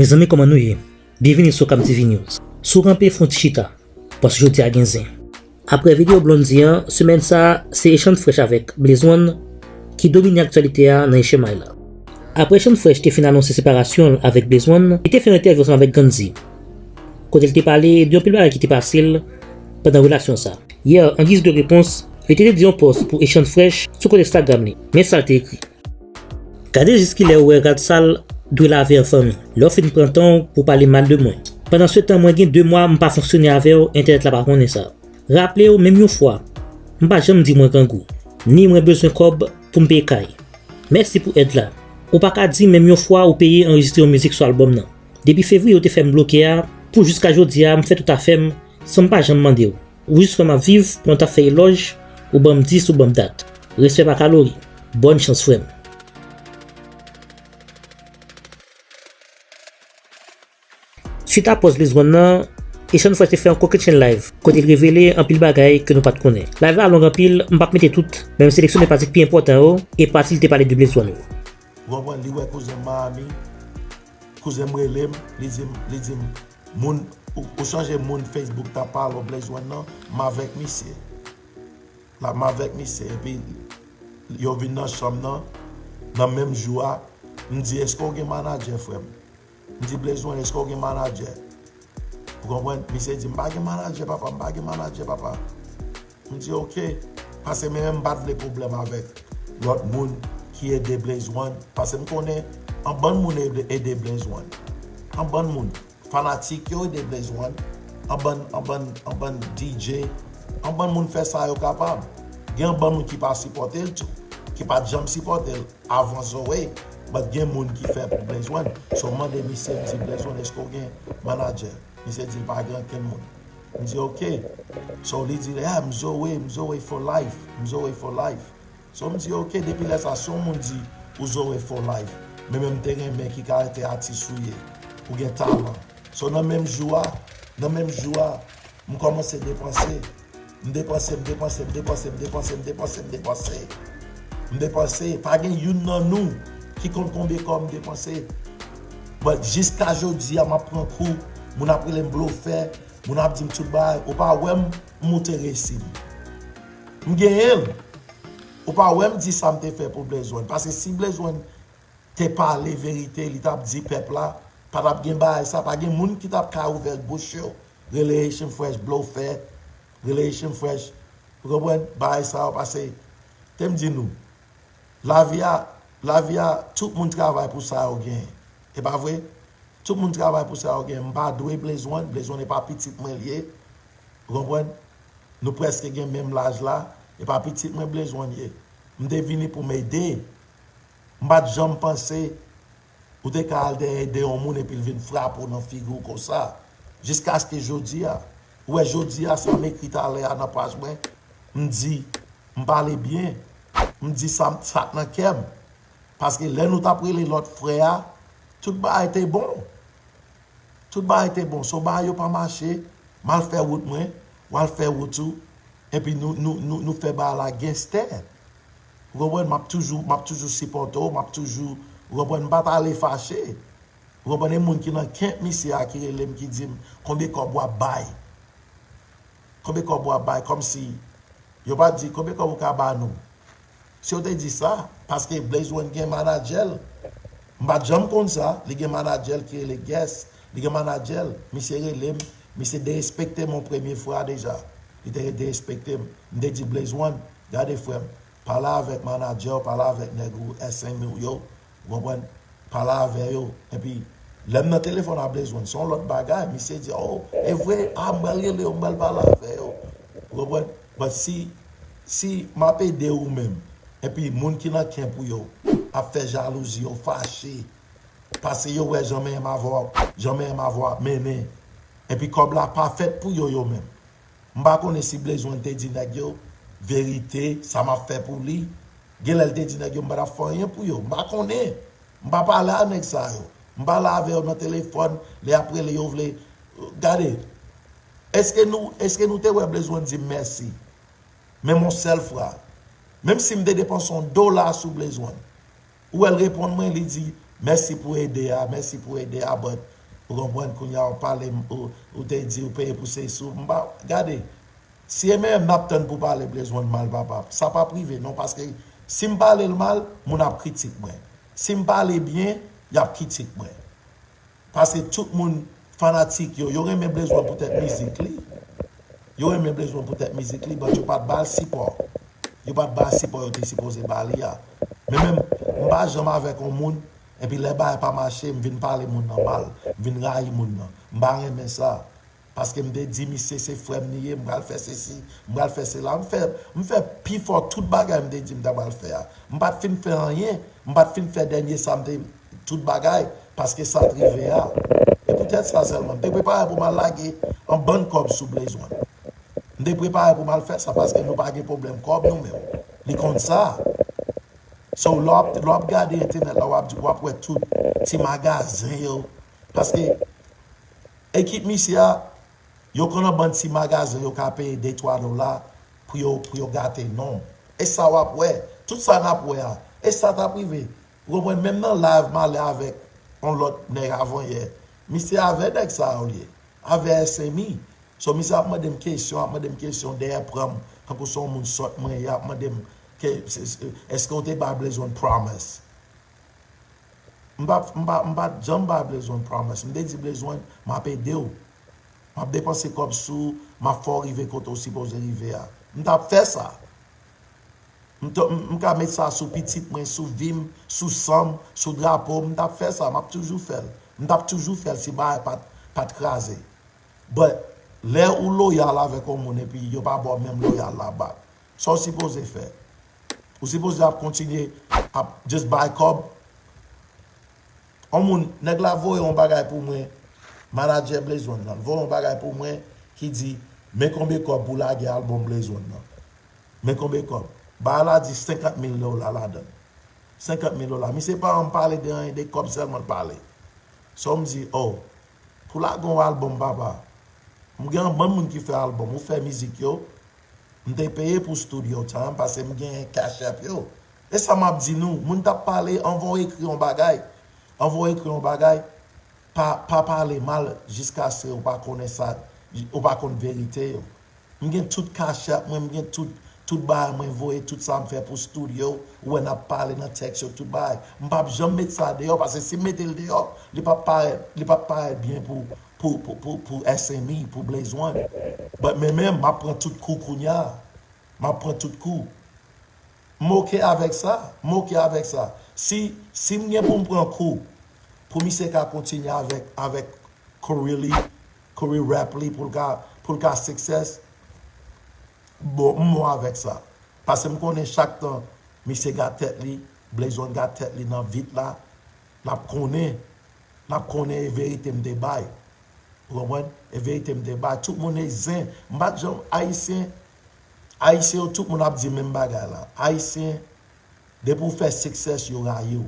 Mezanmi koman nou ye? Byenvini sou CamTv News. Si w kanpe fon ti chita, paske jodi a gen zen. Aprè video Blondy an, semèn sa a, se Echann Frèch avèk Blaze One ki domine aktyalite a nan Echemay la. Aprè Echann Frèch te fin anonse separasyon l avèk Blaze One, li te fè yon entèvyou ansanm avèk Gandhi, kote l te pale de yon pil bagay ki te pase l pandan relasyon sa. Yè, an giz de repons, li te dedye yon pòs pou Echann Frèch sou kont Instagram li. Men sa l te ekri. Gade jis kilè ou wè rad sal dwe lave an fanmi. Lè w fin pran tan w pou w pale mal de mwen. Pandansetan mwen gen 2 mwa m pa fonksyone avè w entènèt la pa konnen sa. Raple w menm yon fwa m pa janm di mwen grangou, ni mwen bezwen kòb pou m peye kay. Mèsi pou èd la. Ou pa ka di menm yon fwa ou peye anrejistre yon mizik sou albòm nan. Depi fevriye ou te fè m bloke a pou jiska jodi a m fè tout afè m san m pa janm mande w. Jis lè map viv pou mwen tap fè elòj ou banm 10 ou banm dat. Respè pa kalori. Bòn chans frèm. Swit a pòz Lizwann nan, Echann Fresh te fè yon kokennchenn live kote li revele anpil bagay ke nou pat konnen. Live la long anpil, m pap mete tout, men m seleksyone pati k pi enpòtan yo e pati li te pale de Blezwann yo. Ou konprann li wè kouzen Maami, kouzenm relem li dim li dim moun ou chanje moun Facebook ta pale w Blaze one nan m avèk misye la m avèk misye epi yo vin nan chanm nan nan menm jou a m di eske w gen manager frèm M di Blaze one eske w gen manadjè? Ou konprann? Misye di m pa gen manadjè papa, m pa gen manadjè papa. M di ok, pase men men m pa t vle pwoblèm avèk lòt moun ki ede Blaze one pase m konnen anbann moun ede Blaze one. Anbann moun. Fanatik yo ede Blaze one, anbann anbann anbann DJ, anbann moun fè sa yo kapab. Gen anbann moun ki pa sipòte l tou, ki pa t janm sipòte l. Avan zoe bat gen moun ki fè pou blenzwen so m mande misye m di blenzwen eske w gen manager misye di l pa gen ankenn moun m di ok so li di ah m zoe m zoe for life m zoe for life so m di ok depi lè sa si yon moun di ou zoe for life men men m te renmen ki karaktè atis ou ye ou gen talan so nan menm jou a nan menm jou a M kòmanse depanse, m depanse, m depanse, m depanse, m depanse, m depanse, m depanse, m depanse, pa gen youn nan nou ki konn konbe kòb m depanse. But jiska jodi a m ap pran kou, moun ap rele m blofè, moun ap di m tout bagay, ou pa wè m moute resi m. M genyen l, ou pa wè m di sa m te fè pou Blaise one, paske si Blaise one te pale verite li t ap di pèp la pa t ap gen bagay sa, pa gen moun ki t ap ka ouvè bouch yo rele Haitian fresh blofè rele Haitian fresh ou konprann bagay sa yo pase tem di nou lavi a lavi a tout moun travay pou sa yo gen e pa vre tout moun travay pou sa yo gen m pa dwe blezwen blezwen e pa pitit mwen liye ou konprann nou preske gen menm laj la e pa pitit mwen blezwen ye m te vini pou m ede m pat janm panse. Ou te ka al dèyè ede yon moun epi l vin frape w nan figi w konsa. Jiskaske jodi a. Ou wè jodi a sa m ekri talè a nan paj mwen, m di, m pale byen, m di sa m, sa k nan kè m. Paske lè nou t ap rele lòt frè a, tout bagay te bon. Tout bagay te bon. So bagay yo pa mache, m al fè wout mwen, w al fè wout ou, epi nou, nou, nou fè bagay la genstè. ou konprann, map toujou, map toujou sipòte w, map toujou, ou konprann, m pa t ale fache, ou konprann, e moun ki nan kep misye a ki rele m ki di m konbe kòb w ap bay, konbe kòb w ap bay, kòmsi yo pa t di konbe kòb ou ka ba nou, si yo te di sa, paske Blaze One gen manadjè l, m pa t janm konn sa, li gen manadjè l ki rele Guess, li gen manadjè l, misye rele m, misye derespekte m yon premye fwa deja. Li te ret derespekte m. M te di Blaze One, gade frè m, pale avèk manadjè w, pale avèk nèg ou, SME w yo, ou konprann, pale avè yo. Enpi, lè m nan telefòn a Blaze One, se yon lòt bagay. Misye di, oh, e vre? Ah, m pral rele yo, m pral pale avè yo. Ou konprann? But si, si m ap ede ou menm, enpi moun ki nan camp ou yo ap fè jalouzi, yo fache, pase yo wè jan menm avè w ap, jan menm avè w ap mennen, Epi kòb la pa fèt pou yo yo menm. M pa konnen si Blaze One te di nèg yo, verite, sa m ap fè pou li. Gen lè l te di nèg yo m pa t ap fè anyen pou yo. M pa konnen. M pa pale a nèg sa yo. M pale avè yo nan telefòn, lè y ap rele yo vle. Gade, èske nou èske nou te wè Blaze One di m mèsi? Menm yon sèl fwa. Menm si m te depanse yon dola sou Blaze One. Ou wèl reponn mwen li di mèsi pou ede a mèsi pou ede a but ou konprann kounya ou palem ou te di ou peye pou sey sou mpa gade si e menm nap tann pou pale Blaze one mal papa sa pap rive non paske sim palel mal moun ap kritik mwen sim pale byen yap kitik mwen Pase tout moun fanatik yo. Yo renmen Blaze one poutèt mizik li. Yo renmen Blaze one poutèt mizik li but yo pat bal sipò. Yo pat bal sipò yo te sipoze ba li a. Men menm m pa janm avèk on moun epi lè bagay pa mache m vin pale moun nan mal. M vin rayi moun nan. M pa renmen sa. paske m te di misye se frè m li ye, m pral fè sesi, m pral fè sela, m fè m fè pi fò tout bagay m te di m ta pral fè a. M pa t fin fè anyen, m pa t fin fè dènye sa m te tout bagay paske sa t rive a. E poutèt sa sèlman, m te prepare pou m al lage yon bann kòb sou Blaze One. M te prepare pou m al fè sa paske nou pa gen pwoblèm kòb nou menm. Li konn sa. So lè w ap gade entènèt la w ap wè tout ti magazen yo Paske ekip misye a, yo konn an bann ti magazen yo ka peye de twa dola pou yo pou yo gate non. E sa w ap wè, tout sa n ap wè a, e sa t ap rive. Ou konprann? Menm nan live m ale avèk yon lòt nèg avanyè, misye avè nèg sa yo l ye, avè SMI. So misye ap mande m kesyon, ap mande m kesyon dèyè pran m tankou se yon moun sòt mwen ye, ap mande m ke èske ou te bay Blaze One Promise. M pa m pa m pat janm bay Blezwen promise. M te di Blezwen m ap ede w. M ap depanse kòb sou ou, m ap fè w rive kote w sipoze rive a. M t ap fè sa. M t m ka met sa sou pitit mwen, sou vi m, sou san m, sou drapo m. M t ap fè sa. M ap toujou fè l. M t ap toujou fè l si bagay pat pat kraze. But, lè ou loyal avèk yon moun epi yo pa ba w menm loyal la back, Sa w sipoze fè? Ou sipoze ap kontinye ap just bay kòb? On moun, nèg la voye yon bagay pou mwen, manadjè Blaze One lan, l voye yon bagay pou mwen ki di, men konbe kòb pou lage albòm Blaze One lan. Men konbe kòb. Bagay la di 50 mil dola ladan l. 50 mil dola. Misye pa janm pale de anyen, de kòb sèlman l pale. So m di, oh, pou lage yon albòm papa, m gen anbann moun ki fè albòm, ou fè mizik yo, M te peye pou studio time pase m genyen cash app yo e sa map di nou moun tap pale anvan w ekri yon bagay anvan w ekri yon bagay pa pa pale mal jiskase ou pa konnen sa ou pa konn verite yo m gen tout cash app mwen m gen tout tout bagay mwen voye tout sa m fè pou studio ou wè nap pale nan text yo tout bagay m pap janm met sa deyò pase si m mete l deyò li pap parèt li pap parèt byen pou pou SMI, pou Blaze One. But men menm, m ap pran tout kou kounya. M ap pran tout kou. M ok avèk sa. M ok avèk sa. Si, si m gen pou m pran kou, pou misye ka kontinye avèk, avèk career li, career rap li pou l ka, pou l ka success, bon, m bon avèk sa. Pase m konnen chak tan misye gad tèt li, Blaze One gad tèt li nan vit la, l ap konnen. M ap konnen e verite m te bay. Ou konprann? E verite m te bay. Tout moun e zen. M pa t janm Ayisyen. Ayisyen yo tout moun ap di menm bagay la. Ayisyen, depi ou fè success yo rayi w.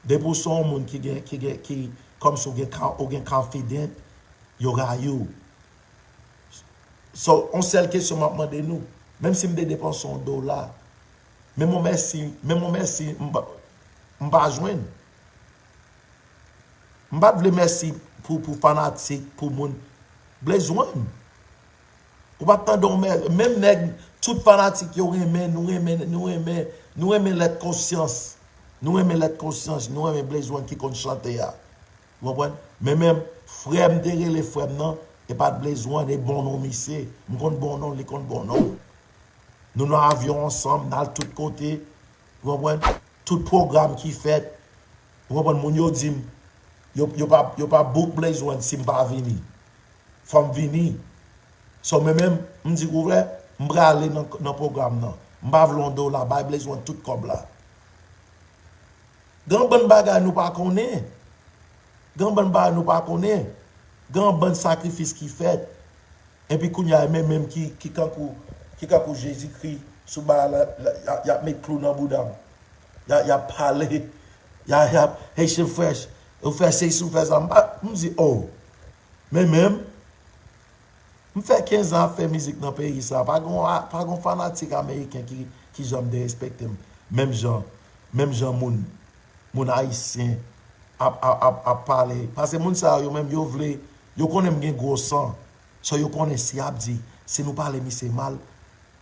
Depi ou se yon moun ki gen, ki gen, ki, kòmsi ou gen, ou gen confident, yo rayi w. So, yon sèl kesyon m ap mande nou, menm si m te depanse yon dola, menm yon mèsi, menm yon mèsi m pa jwenn. M pat vle mèsi pou pou fanatik pou moun Blaze one ou pat tande yon mè menm nèg tout fanatik yo renmen nou renmen nou renmen nou renmen lèt konsyans nou renmen lèt konsyans nou renmen Blaze one ki konn chante a ou konprann men menm frè m te rele frè m nan e pat Blaze one e bon non misye m konn bon non li konn bon non nou nan avyon ansanm n al tout kote Ou konprann? Tout pwogram ki fèt, ou konprann, moun yo di m, yo pa book Blaze One si m pa vini. Fò m vini. So mwen menm, m di kou vre, m prale nan pwogram nan. M pa vle yon dola, bay Blaze One tout kòb la. Gen yon bann bagay nou pa konnen. Gen yon bann bagay nou pa konnen. Gen yon bann sakrifis ki fèt. Epi kounya e men menm ki ki kankou ki kankou jezi kri sou baal la yap met klou nan boudam ya yap pale ya yap haitian fresh ou fè sesi ou fè sa m pa m di oh men menm m fè 15 ans ap fè mizik nan peyi sa pa gon pa gon fanatik ameriken ki ki janm derespektem menm jan menm jan moun Moun ayisyen ap pale pase moun sa yo menm yo vle yo konnen m gen gwo san so yo konnen si yap di si nou pale misye mal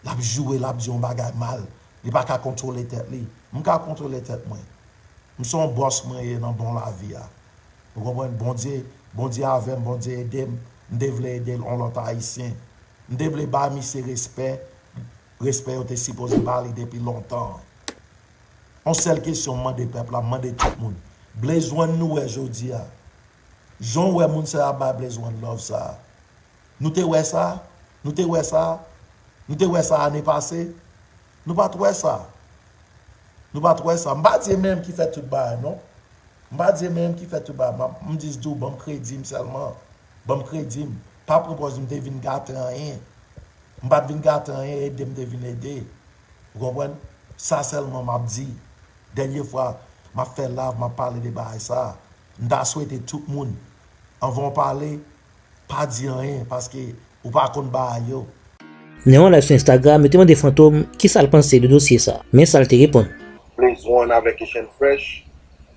lap joure lap di yon bagay mal li pa ka kontwole tèt li m ka kontwole tèt mwen m son bòs mwen ye nan bon lavi a ou konprann bondye bondye avè m bondye ede m m te vle ede on lòt ayisyen m te vle bay misye respè Respè yo te sipoze ba li depi lontan. On sèl kesyon m mande pèp la, m mande tout moun, Blaze One nou wè jodi a, jan w wè moun sa yo ap bay Blaze One love sa a, nou te wè sa? Nou te wè sa? Nou te wè sa ane pase? Nou pa t wè sa. Nou pa t wè sa. M pa di e menm ki fè tout bagay non. M pa di e menm ki fè tout bagay. M ap, m jis di w, ban m kredi m sèlman. Banm kredi m pa pran pòz m te vin gate anyen. M pat vin gate anyen ede m te vin ede. Ou konprann? Sa sèlman m ap di. Dènye fwa m ap fè lav m ap pale de bagay sa. M ta swete tout moun anvan w pale pa di anyen paske ou pa konn bagay yo. Nan yon layv sou Instagram yo te mande Fantom kisa l panse de dosye sa. Men sa l te reponn. Blaze One avèk Echann Fresh.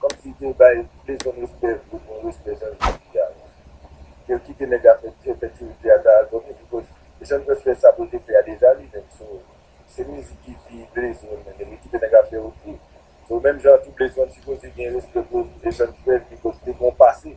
Komsi te bay leson respè vre bon respè jan yo di a wi kel kite nèg a fè te fè tirite a ta al domi li koz Jan pres fè sa poul te fè a deja li menm so se mizik ki pi bleze menm ebyen kite nèg a fè ok so menm jan an tou bleze menm sipoze gen respè pou Jan pres li koz li te gon pase